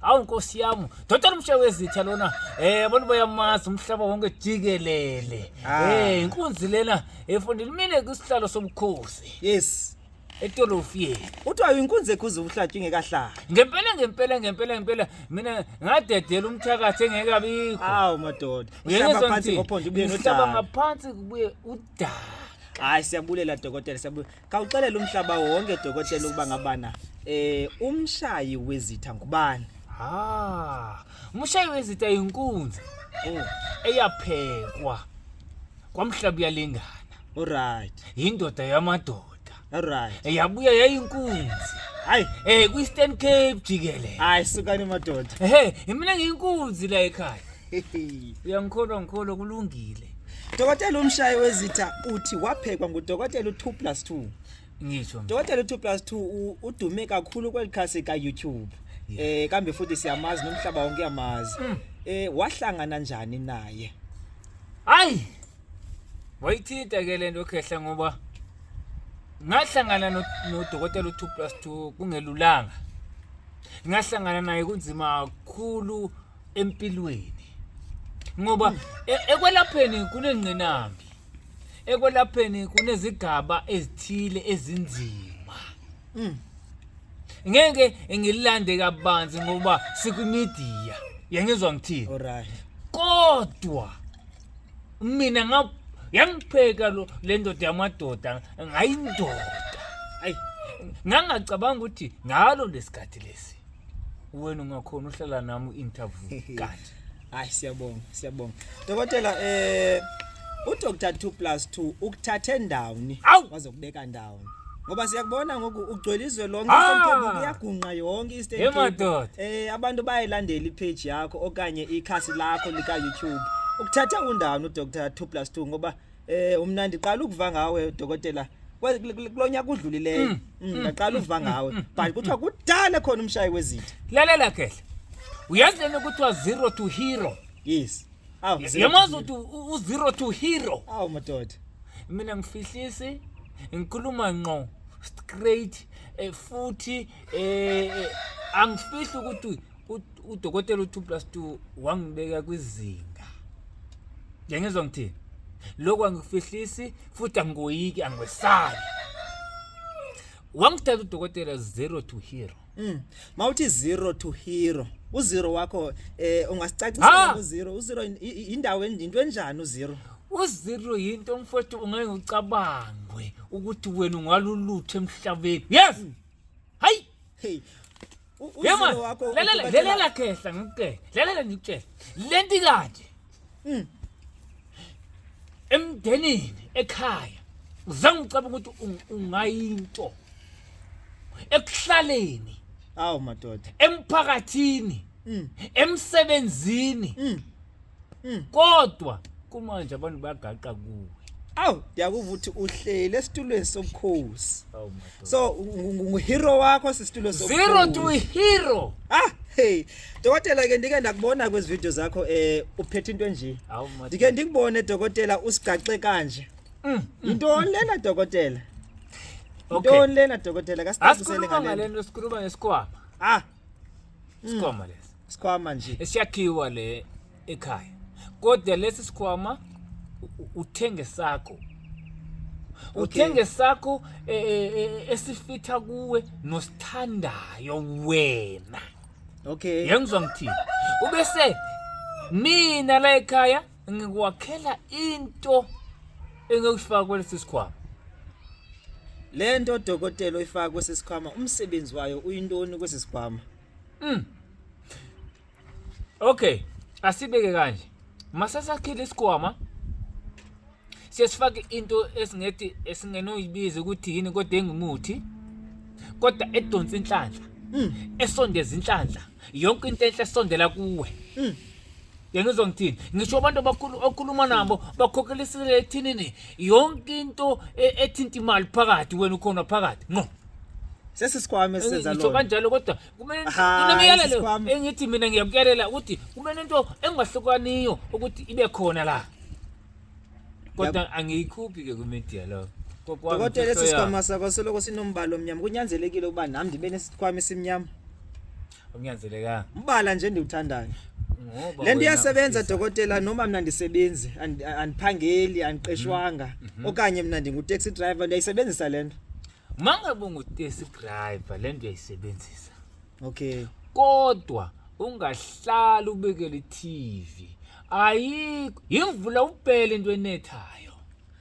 hawu nkosi yami doda lomsha wezitha lona eh abantu bayamazi umhlaba wonke jikelele Ah. eh inkunzi lena efundile mina kusihlalo sobukhosi yes etolofiyeni kuthiwa inkunzi ekhuza ubuhlatshwa ingekahlali ngempela ngempela ngempela ngempela mina ngadedela umthakathi engekabikho hawu madoda Uyeke uhlaba phansi ngizongithini? ngophondo ubuye Ngihlaba nodaka ngaphansi kubuye udaka hayi siyabulela dokotela siyabulela Kawuxelela umhlaba wonke dokotela ukuba ngabana eh umshayi wezitha ngubani? Ah, umshayi wezitha inkunzi. Oh, eyaphekwa kwamhlaba uyalingana. Alright. Indoda yamadoda. Alright. Eyabuya yayinkunzi. Hayi, eh kwi-Eastern Cape jikelele. Hayi sukani madoda. Ehhe, mina ngiyinkunzi la ekhaya. uyangikholwa ngikholwa kulungile dokotela umshayi wezitha uthi waphekwa ngudokotela u-2 plus 2 ngisho dokotela u-2 plus 2 udume kakhulu kweli khasi ka-youtube um eh, kambe futhi siyamazi nomhlaba wonke uyamazi um mm. eh, wahlangana njani naye hayi wayithinta ke le nto khehla ngoba ngahlangana nodokotela u-two plus two kungelulanga ngahlangana naye kunzima kakhulu empilweni ngoba e- ekwelapheni kunengqinambi ekwelapheni kunezigaba ezithile ezinzima Mm. ngeke ngilande kabanzi ngoba sikumedia yangizwa ngithini Alright. kodwa mina nga yangipheka lo lendoda yamadoda ngayindoda ayi ngangacabanga ukuthi ngalo lesikhathi lesi wena ungakhona uhlala nami u-interview kati hayi siyabonga siyabonga dokotela eh udr 2 plus 2 ukuthathe ndawoni waze kubeka ndawoni ngoba siyakubona ngoku ugcwele izwe lonke ah! isemkebuku iyagunqa yonke isteemadoda um eh, abantu bayayilandela ipheji yakho okanye ikhasi lakho lika-youtube ukuthatha undawoni udr 2 plus 2 ngoba Eh umnandi qala ukuva ngawe dokotela kulonyaka udlulileyo mm, mm, mm, ngaqala uva ngawe but kuthiwa kudala khona umshayi wezitha lalela kehle uyazi lena kuthiwa zero to hero yes yamazi ukuthi u-zero to hero awu madoda mina ngifihlisi ngikhuluma nqo straight eh, futhi eh, eh, angifihli ukuthi udokotela u2 plus 2 wangibeka kwizinga ngengizwa ngithini lokho angikufihlisi futhi angigoyiki angiwesabi wangithatha udokotela zero to hero mm. mawuthi zero to hero uzero wakho eh ungasicacisa uzero uzero indawo into enjani uzero uzero yinto mfowethu ungeke ucabangwe ukuthi wena ungalulutho emhlabeni yes mm. hayi hey Yema, lalela lalela khehla ngikutshela. Lalela ngikutshela. Lenti kanje. Mm. Emndenini ekhaya uzange ucabanga ukuthi ungayinto ekuhlaleni awu madoda emphakathini mm. emsebenzini mm. Mm. kodwa kumanje abantu bagaqa kuwe awu ndiyakuva ukuthi uhleli esitulweni sobukhosi awu madoda so ngu- ngu- nguhero wakho sisitulo zero to sobukhosi hero ah hey dokotela ke ndike ndakubona kwezi video zakho eh uphethe into enje awu madoda ndike ndikubone dokotela usigaxe kanje Mm, yintoni lena dokotela okay yintoni lena dokotela kasicacisele asikhuluma ngalento ngalento sikhuluma ngesikwama ah isikhwama lesi isikhwama nje esiyakhiwa le ekhaya kodwa lesi sikhwama u- u- uthenge sakho Okay. uthenge sakho e- e- e- esifitha kuwe nosithandayo wena okay yengizwa ngithini ubese mina la ekhaya ngikwakhela into engekufaka kwelesi sikhwama le nto odokotela oyifaka kwesi sikhwama umsebenzi wayo uyintoni kwesi sikhwama mm. okay asibeke kanje masasakhile isikhwama siyasifaka into esingethi esingenoyibiza ukuthi yini kodwa engimuthi kodwa edonsa inhlanhla mm. esondeza inhlanhla yonke into enhle esondela kuwe mm. yena uzongithini ngisho abantu abakhulu okhuluma nabo bakhokhelisele ethinini yonke into e- ethinta imali phakathi wena ukhona phakathi no sesisikhwama esenza ngisho lona kanjalo kodwa kumele Aha, kunemiyalelo sisikhwama. engithi mina ngiyakuyalela ukuthi kumele into engahlukaniyo ukuthi ibe khona la kodwa angiyikhuphi ke kwimedia lo Kokwami dokotela imfihlo esi yami. sikhwama sakho soloko sinombala omnyama kunyanzelekile ukuba nami ndibe nesikhwama esimnyama Kunyanzelekanga. Ubala nje endiwuthandayo. Ngoba Le nto wena iyasebenza ufisa- dokotela noma mna ndisebenzi and- andiphangeli andiqeshwanga Mhm. okanye mna ndingu-taxi driver ndiyayisebenzisa le nto Uma ngabe ungutesi driver le nto uyayisebenzisa. okay Kodwa ungahlali ubekele i-TV. Ayikho yimvula ubhele into enethayo.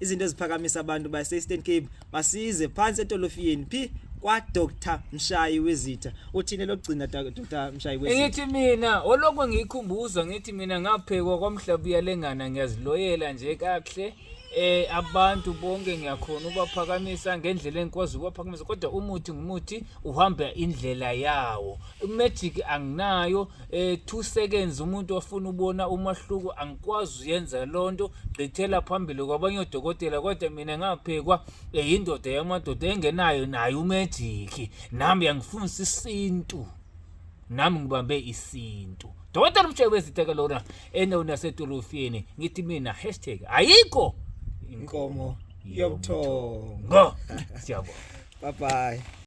izinto eziphakamisa abantu base-eastern cape basize phansi etolofiyeni phi kwa-dr mshayi wezitha uthini lokugcina dr mshayi wezitha ngithi mina olokhu ngiyikhumbuzwa ngithi mina ngaphekwa kwamhlaba uyalengana ngiyaziloyela nje kakuhle eh abantu bonke ngiyakhona ubaphakamisa ngendlela engikwazi ubaphakamisa kodwa umuthi ngumuthi uhamba indlela yawo magic anginayo eh 2 seconds umuntu ofuna ubona umahluko angikwazi uyenza lonto gqithela phambili kwabanye odokotela kodwa mina ngaphekwa eh, indoda yamadoda engenayo naye umagic nami yangifundisa isintu nami ngibambe isintu dokotela umshebe weziteka lona endaweni yasedolofini ngithi mina hashtag ayikho inkomo yobuthongo siyabonga bye bye